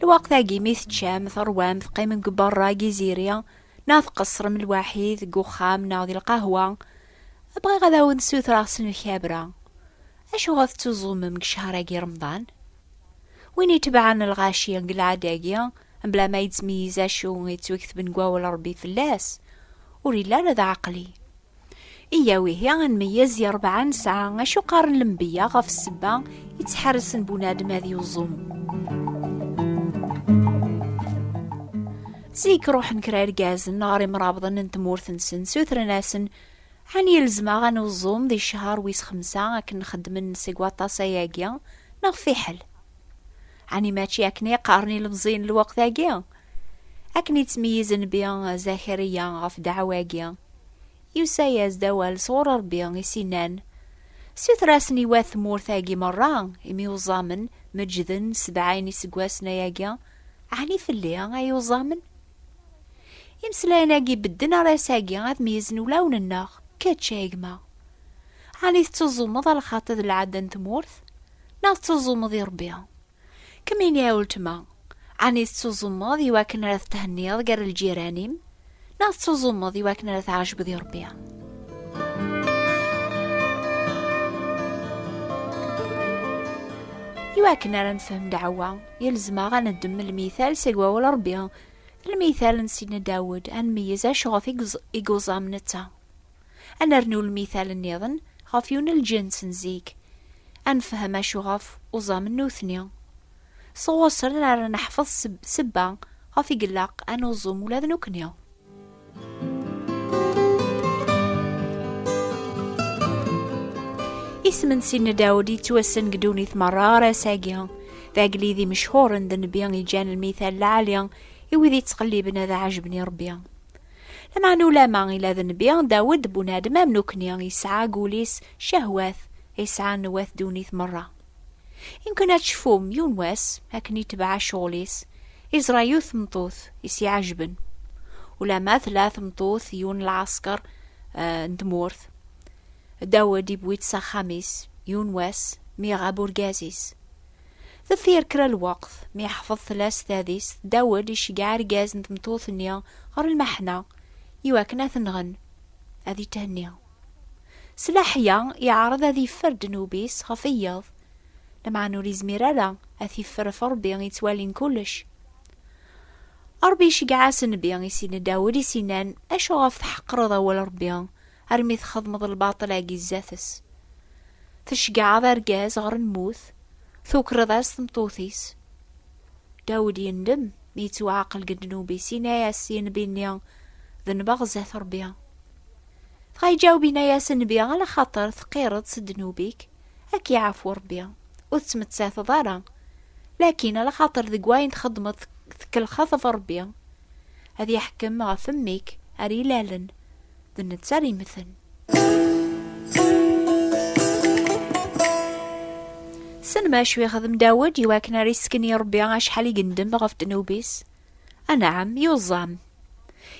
Lweqt-agi mi teččam, terwam, teqqimem deg berra deg iziri, neɣ tqeṣṣrem lwaḥid deg uxxam neɣ di lqahwa, bɣiɣ ad awen-d-ssutreɣ s lemkabra. Acuɣer tettuẓumem deg ccehṛ-agi Remḍan? Win itebɛen lɣaci deg lɛada-agi, mebla ma yettmeyyiz acu i yettweketben deg Wawal n Ṛebbi fell-as, ur yelli ara d aɛeqli. Iya wihi ad nmeyyez i rebɛa nesɛa acu qqaren lembeyya ɣef ssebba i ttḥarsen bunadem ad yuẓum. Zik ruḥen kra irgazen ɣer imrabḍen n tmurt-nsen sutren-asen Ɛni ilzem-aɣ ad nuẓum di ccher wis xemsa akken xeddmen seg waṭas ayagi neɣ fiḥel? Ɛni mačči akken i qqaren ilemẓiyen n lweqt-agi? Akken i ttmeyyiz Nnbi Zakariya ɣef ddeɛwa-agi, yusa-as-d awal sɣur Ṛebbi i s-innan, Suter-asen i wat tmurt-agi meṛṛa imyuẓamen meǧǧden sebɛa-yn iseggasen ayagi, ɛni fell-i ay uẓamen? Imeslayen-agi bedden ɣer ass-agi ad meyyzen ulawen-nneɣ, kečč, ay gma! Ɛni tettuẓumeḍ a lxaṭi d lɛadda n tmurt, neɣ tettuẓumeḍ i Ṛebbi? Kemmini a weltma, ɛni tettuẓumeḍ i wakken ara tethenniḍ gar lǧiran-im, neɣ tettuẓumeḍ i wakken ara tɛejbeḍ i Rebbi? I wakken ara nefhem ddeɛwa, yelzem-aɣ ad neddem lmital seg wawal Rebbi, lmital n Sidna Dawed, ad nmeyyez acu ɣef i yuẓam netta. Ad nernu lmithal nniḍen ɣef yunelǧens n zik, ad nefhem acu ɣef uẓamen nutni. Sɣuṣṣren ara neḥfeḍ sebba ɣef i ilaq ad nuẓum ula d nekni. Isem n Sidna Dawed yettwassen deg ddunit merra ɣer ass-agi. D agellid imechhuren d nnbi iǧǧan lmithal lɛali i wid yettqelliben ad ɛejben i Rebbi. Lameɛna ulama ila d nnbi Dawed bunadem am nukni, yesɛa deg wul-is cehwat ay sɛan wat ddunit merra. Imken ad tecfum, yiwen wass, akken itebɛa ccɣel-is, iẓra yiwet tmeṭṭut i s-iɛejben. Ulama tella tmeṭṭut yiwen n lɛasker n tmurt, Dawed iwwi-tt s axxam-is, yiwen wass, mi iɣab urgaz-is. Deffir kra n lweqt, mi yeḥfeḍ tella s tadist, Dawed iceggeɛ argaz n tmeṭṭut-nni ɣer lmeḥna i wakken ad t-nɣen, ad ithenni. S leḥya, iɛreḍ ad yeffer ddnub-is ɣef wiyeḍ, lameɛna ur yezmir ara ad t-yeffer ɣef Ṛebbi yettwalin kullec. Ṛebbi iceggeɛ-as Nnbi, isin-d Dawed, is-inan, Acu ɣef tḥeqqreḍ awal Ṛebbi? armi txedmeḍ lbaṭel agi zdat-s. Tecgaɛeḍ argaz ɣer lmut, tukreḍ-as tmeṭṭut-is. Dawed yendem mi yettwaɛqel deg ddnub-is, yenna-as i nnbi-nni, d nbeɣ zdat Rebbi. Dɣa iǧaweb yenna-as nnbi, ala xaṭer teqqireḍ s ddnub-ik, ad k-iɛfu Rebbi, ur tettmettateḍ ara. Lakin ala xaṭer deg wayen txedmeḍ tkellxeḍ ɣef Rebbi, ad iḥkem ɣef mmi-k ar ilalen, d netta ara yemmten. Sen ma acu yexdem Dawed i wakken ara yesken i Rebbi acḥal i gendem ɣef ddnub-is? Anɛam, yuẓam.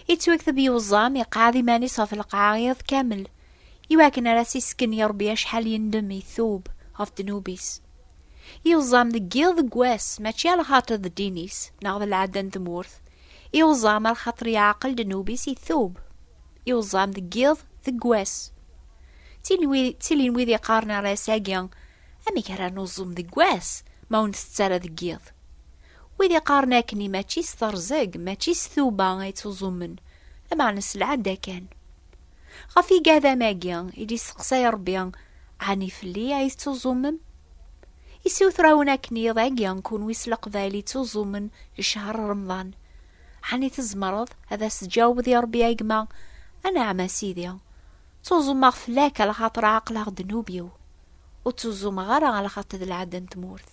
Yettwakteb yuẓam, iqɛed iman-is ɣef lqaɛa iḍ kamel, i wakken ara s-isken i Rebbi acḥal yendem itub ɣef ddnub-is. Yuẓam deg yiḍ deg wass, mačči a lxaṭi d ddin-is, neɣ d lɛadda n tmurt, I uẓam ar xaṭer yeɛqel ddnub-is itub. I uẓam deg yiḍ deg wass. Ttilin wid iqqaren ar ass-agi, Amek ara nuẓum deg wass ma ur ntett ara deg yiḍ? Wid iqqaren akkenni mačči s terẓeg, mačči s tuba ay ttuẓumen, lameɛna s lɛada kan. Ɣef igadam-agi i d-isteqsay Rebbi, Ɛni fell-i ay tettuẓumem? Issutrawen akken iḍ agi kunwi s leqbayel ittuẓumen ccehr Remḍan. Ɛni tzemreḍ ad as-tjawbeḍ i Rebbi a gma, Anɛam a Sidi, ttuẓumeɣ fell-ak a lxaṭer ɛeqleɣ ddnub-iw, ur ttuẓumeɣ ara a lxaṭ d lɛada n tmurt.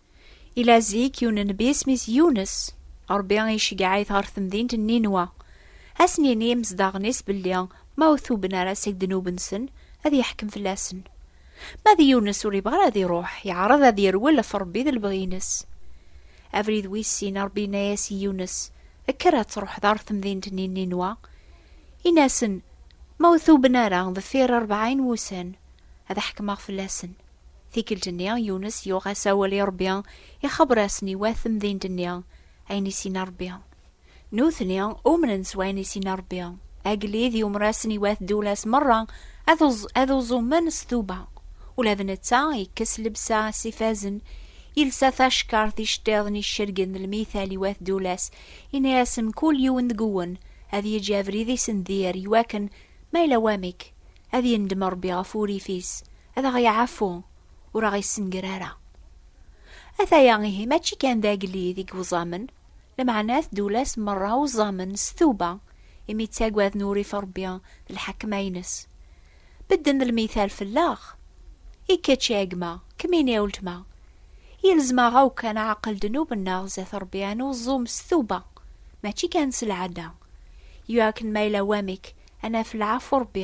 Ila zik yiwen n bi isem-is Yunes, Ṛebbi iceggeɛ-it ɣer temdint n Ninwa. Ad sen-yini imezdaɣen-is belli ma ur tuben ara seg ddnub-nsen, ad yeḥkem fell-asen. Ma d Yunes ur yebɣi ara ad iṛuḥ, yeɛreḍ ad yerwel ɣef Ṛebbi d lebɣi-ines. Abrid wis sin, Ṛebbi yenna-as i Yunes, Kker ad tṛuḥeḍ ɣer temdint-nni n Ninwa, ini-asen, Ma ur tuben ara deffir rebɛin wussan, ad ḥekmeɣ fell-asen. Tikkelt-nni, Yunes yuɣ-as awal i Ṛebbi, ixebber-asen i wat temdint-nni ayen i s-yenna Ṛebbi. Nutni umnen s wayen i s-yenna Ṛebbi. Agellid yumer-asen i wat Dulas meṛṛa ad uẓumen s tuba. Ula d netta yekkes llebsa s ifazen, yelsa tacekkart iceṭṭiḍen icergen d lmital i wat Dulas, yenna-asen mkul yiwen deg-wen ad yeǧǧ abrid-is n dir, iwakken ma yella wamek, ad yendem Ṛebbi ɣef wurrif-is. ad aɣ-yeɛfu ur aɣ-yessenger ara. Ataya ihi mačči kan d agellid i iwẓamen, lameɛna ad tdula-s merra uẓamen s tuba imi ttagaden urrif n Rebbi d lḥekma-ines. Bedden d lmital fell-aɣ. I kečč a gma, kemmini a weltma, yelzem-aɣ-aw kan aɛaqel ddnub-nneɣ zdat Rebbi ad nuẓum s tuba, mačči kan s lɛada, i wakken ma yella wamek ad naf lɛafu n Rebbi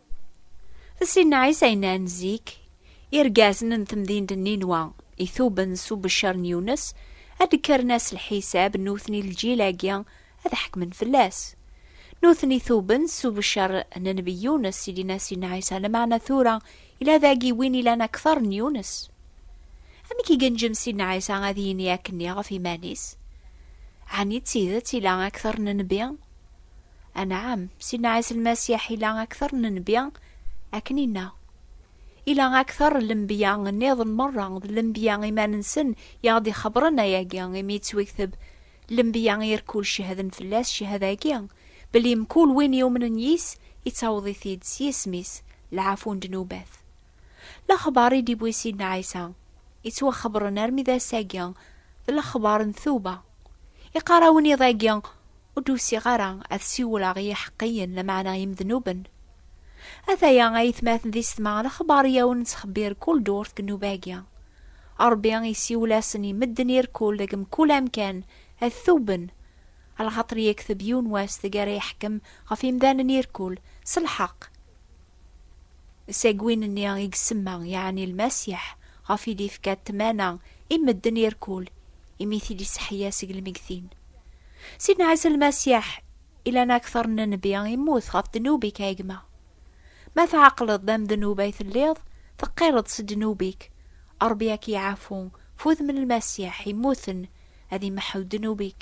Sin Ɛisa yennan zik, irgazen n temdint n Ninwa ituben s ubeccer n Yunes, ad d-kkren ass lḥisab, nutni lǧil-agi ad ḥekmen fell-as. Nutni tuben s ubeccer n Nnbi Yunes i d-yenna Sin Ɛisa, lameɛna tura yella dagi win ilan akteṛ n Yunes. Amek i genǧem Sin Ɛisa ad yini akkenni ɣef yiman-is? Ɛni d tidet ila akteṛ n Nnbi? Anɛam, Sidna Ɛisa Lmasiḥ ila akteṛ n nnbi, akken inna. Ila akteṛ n lenbiya nniḍen meṛṛa, d lenbiya iman-nsen i aɣ-d-ixebbṛen ayagi, imi yettwikteb, Lenbiya irkul cehden fell-as, cehada-agi, belli mkul win yumnen yis, ittaweḍ-it-id, s yisem-is, lɛafu n ddnubat. Lexbaṛ i d-iwwi Sidna Ɛisa, ittwaxebbṛen armi d ass-agi, d lexbaṛ n tuba. Iqqar-awen iḍ-agi, Ur d-usiɣ ara ad siwleɣ i yiḥeqqiyen, lameɛna imednuben. Ataya ayetmaten di setma, lexbar i awen-nettxebbir kul ddurt deg nnuba-agi. Rebbi isiwel-asen i medden irkul deg mkul amkan, ad tuben. Alxaṭer yekteb yiwen wass deg ara iḥkem ɣef imdanen irkul, s lḥeqq. Seg win-nni i isemma, yeɛni Lmasiḥ, ɣef i d-ifka ṭṭmana i medden irkul, imi i t-id-iseḥya seg lmegtin. Sidna Ɛisa Lmasiḥ, i lana kter n nnbi, immut ɣef ddnub-ik a gma. Ma tɛeqleḍ d amednub ay telliḍ, teqqireḍ s ddnub-ik, Rebbi a k-iɛafu, f udem n Lmasiḥ immuten ad imeḥḥu ddnub-ik.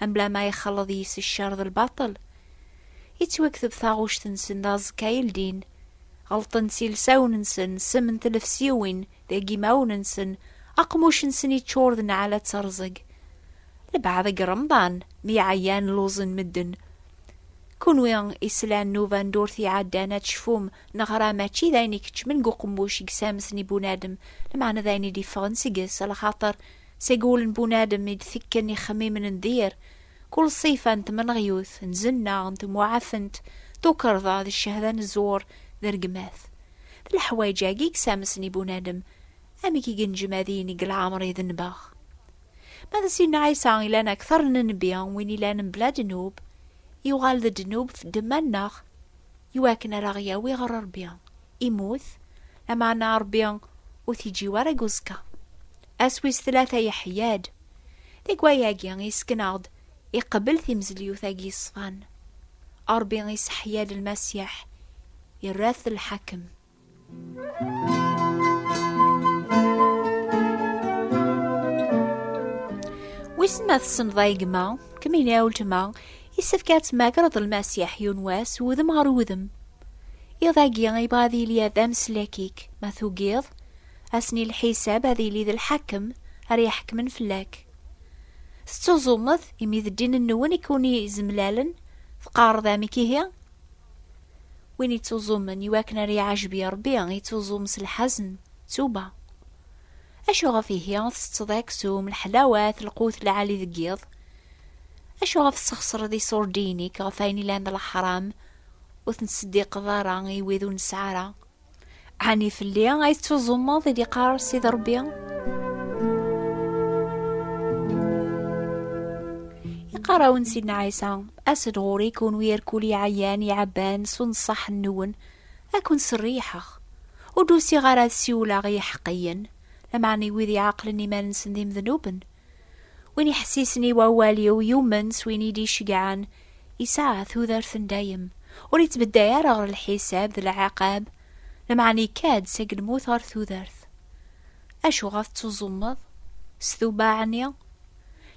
Amblama ixelleḍ yis ccer d lbaṭel. Yettwakteb taɣuct-nsen d aẓekka i ldin. Ɣelṭen s ilsawen-nsen, ssem n tlefsiwin, deg yimawen-nsen, aqmuc-nsen yeččur d nneɛlat d teṛẓeg. Lbaɛḍ deg Remḍan, mi ɛyan luẓen medden. Kunwi islan n ubandurt iɛeddan ad tecfum neɣ ra mačči d ayen ikeččmen deg uqemmuc i yessamsen i bunadem, lmeɛna d ayen i d-iffɣen seg-s, lxaṭer Seg wul n bunadem i d-tekken ixemmimen n dir, kul ṣṣifa n tmenɣyut, n zenna, n temwaɛafent, tukerḍa, d ccehda n zzwur, d rregmat. D leḥwayeǧ-agi i yesamsen i bunadem, amek i yenǧem ad yinig leɛmer idenbeɣ. Ma d Sidna Ɛisa ilan akteṛ n nnbi, win ilan mebla ddnub, yuɣal-d ddnub f ddemma-nneɣ, iwakken ar aɣ-yawi ɣer Ṛebbi, imut, lameɛna Ṛebbi ur t-iǧǧiw ara deg uẓekka. Ass wis tlata yeḥya-d. Deg wayagi yesken-aɣ-d iqbel timezlyut-agi yeṣfan. Ṛebbi iseḥya-d Lmasiḥ, irra-t lḥakem. Wissen ma tessneḍ ay gma, kemmini a weltma, yessefk ad tmagreḍ Lmasiḥ yiwen wass wudem ɣer wudem. Iḍ-agi yebɣa ad yili d ameslak-ik, ma tugiḍ, Ass-nni n lḥisab ad yili d lḥakem ara iḥekmen fell-ak. Tettuẓumeḍ imi d ddin-nwen i ken-izemlalen, teqqareḍ amek ihi? Win ittuẓumen i wakken ara iɛejb i Rebbi, ittuẓum s lḥazen, ttuba. Acu ɣef ihi tsetteḍ aksum, lḥelawat, lqut lɛali deg yiḍ? Acu ɣef tesxeṣreḍ iṣurdiyen-ik ɣef wayen ilan d leḥram, ur ten-ttseddiqeḍ ara i wid ur nesɛi ara? Ɛni fell-i ay tettuẓumeḍ i d-iqqar Sidi Ṛebbi? Iqqar-awen Sidna Ɛisa, as-d ɣur-i kunwi irkul iɛeyyan iɛebban s unṣaḥ-nwen, ad ken-serriḥeɣ. Ur d-usiɣ ara ad siwleɣ i yiḥeqqiyen, lameɛna i wid iɛeqlen iman-nsen d imednuben. Win iḥessisen i wawal-iw yumen s win i d-iceggɛen, yesɛa tudert n dayem, ur yettbedday ara ɣer lḥisab d lɛiqab, lameɛna ikka-d seg lmut ɣer tudert. Acu ɣef ttuẓumeḍ? S tubaɛ-nni?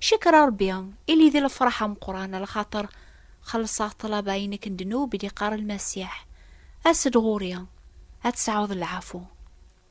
Cekker a Rebbi, ili di lefraḥ ameqqran, lxaṭer xellṣeɣ ṭṭlaba-inek n ddnub i d-iqqar Lmasiḥ, As-d ɣur-i, ad tesɛuḍ lɛafu.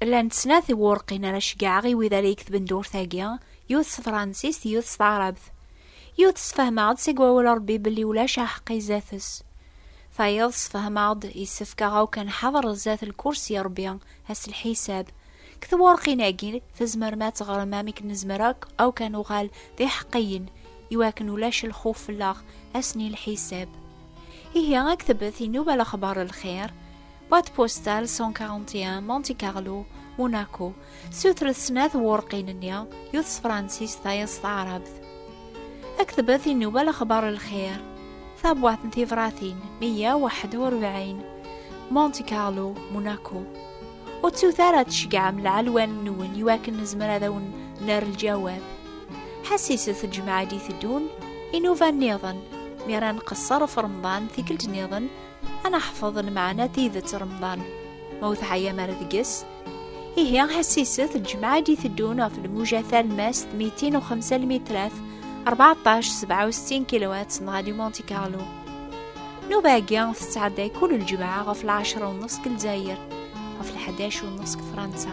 Llant snat i wurqin ara ceggɛeɣ i wid ara yeketben durt-agi, yiwet s tefransist, yiwet s taɛrabt. Yiwet sfehmeɣ-d seg wawal n Rebbi belli ulac aḥeqqi i zdat-s. Tayeḍ sfehmeɣ-d yessefk aɣ akk ad nḥader zdat lkursi n Rebbi, ass n lḥisab. Deg twurqin-agi, tzemrem ad teɣrem amek nezmer akk akk ad nuɣal d iḥeqqiyen, i wakken ulac lxuf fell-aɣ ass n lḥisab. Ihi, a ktebet inuba lexbar n lxir, Boîte postale 141 Monte Carlo Monaco sutret snat wurqin-nni yut s Fransis tayeḍ s taɛrabt aktbet inuba lexbar lxir tabwat n tibratin 141 Monte Carlo Monaco ur ttut ara tceggɛem lɛelwan-nwen iwakken nezmer ad awen ner lǧawab ḥassiset lǧemɛa d-iteddun inuba-nniḍen mi ara nqeṣṣer ɣef remḍan tikkelt-nniḍen ad neḥfeḍ lmeɛna tidet remḍan ma ur teɛyam ara deg-s ihi ḥessiset lǧemɛa d iteddun ɣef lmuja talmast 205 lmitrat 14 67 kilowat n Radio Monte Carlo nuba-agi tettɛedday kul lǧemɛa ɣef lɛecra u nus deg Lezzayer ɣef lḥadac u nus deg Fransa